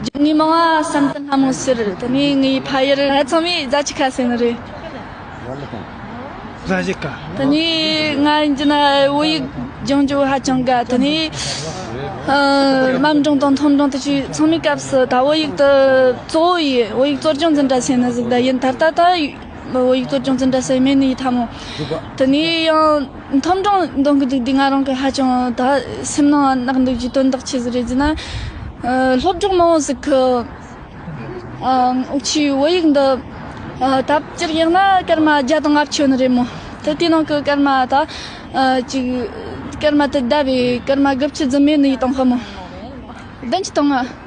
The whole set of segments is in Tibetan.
རྒྱུ་དངོས་མང་བ་བསམ་དུ་སྣང་མོད་ཟེར། དེ་ནས་ངའི་ཕ་ཡུལ་ང་ཚང་མས་རྫ་ཆི་ཁ་ཟེར་ནི་རེད། རྫ་ཆི་ཁ། དེ་ནས་ང་འཇི་ན་བོད་ཡིག་སྦྱང་རྒྱུ་ཧ་ཅང་དགའ། དེ་ནས་རྨ་འབྲིང་དང་མཐོ་འབྲིང་དུ་ཆུ་ཚང་མའི་སྐབས་སུ་ད་བོད་ཡིག་ཏུ་གཙོ་བོ་ཡི་བོད་ཡིག་གཙོར་སྦྱོང་འཛིན་གྲྭ་ཟེར་ནི་གཟིགས་ཟླ་ཡིན་ད་ལྟ་ད་བོད་ཡིག་གཙོར་སྦྱོང་འཛིན་གྲྭ་ཟེར་མེད་ནི་ཡི་ད་མོ། དེ་ནས་ཡང། མཐོང་སྒྲུང་འདོན་གྱི་འདུག་འདི་ང་རང་གི་ཧ་ཅང་ད་སེམས་ནང་གནག་འདུག་གི་དོན་དག་ཆེ་ཟིག་རེད་ཅེ་ན། སློབ་གྲོགས་མང་བོ་ཟིག་གི་ཨོ་ཆུའི་བོད་ཡིག་འདི་ད་སྤྱིར་ཡང་ན་སྐར་མ་བརྒྱ་དང་ལྔ་བཅུ་ནི་རེད་མོ། ད་དེའི་ནང་གི་སྐར་མ་ད་ཅིག་སྐར་མ་དེ་ཟླ་བའི་སྐར་མ་དགུ་བཅུ་རྫུན་མའི་ནི་ཡིད་དང་ཧོ་མོ། བདུན་བཅུ་དང་ལྔ།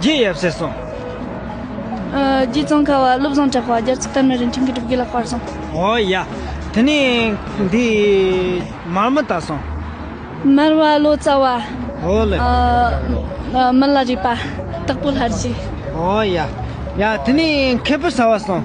རྗེ་ཡབ་སྲས་སོ། རྗེ་ཙོང་ཁ་བ་བློ་བཟང་གྲགས་པ་རྒྱ་མཚོ་དར་མའི་རིན་ཆེན་གྱི་སྒྲུབ་དགེ་ལ་སྤར་སོང། འོ་ཡ། དེ་ནས་འདི་མར་མི་བཏགས་སོང། མར་བ་བློ་རྩ་བ། འོ་ལེ། མི་ལ་རས་པ། སྟག་པོ་ལྷར་བྱས། འོ་ཡ། ཡ། དེ་ནས་མཁས་པོ་ཟ་བ་སོང།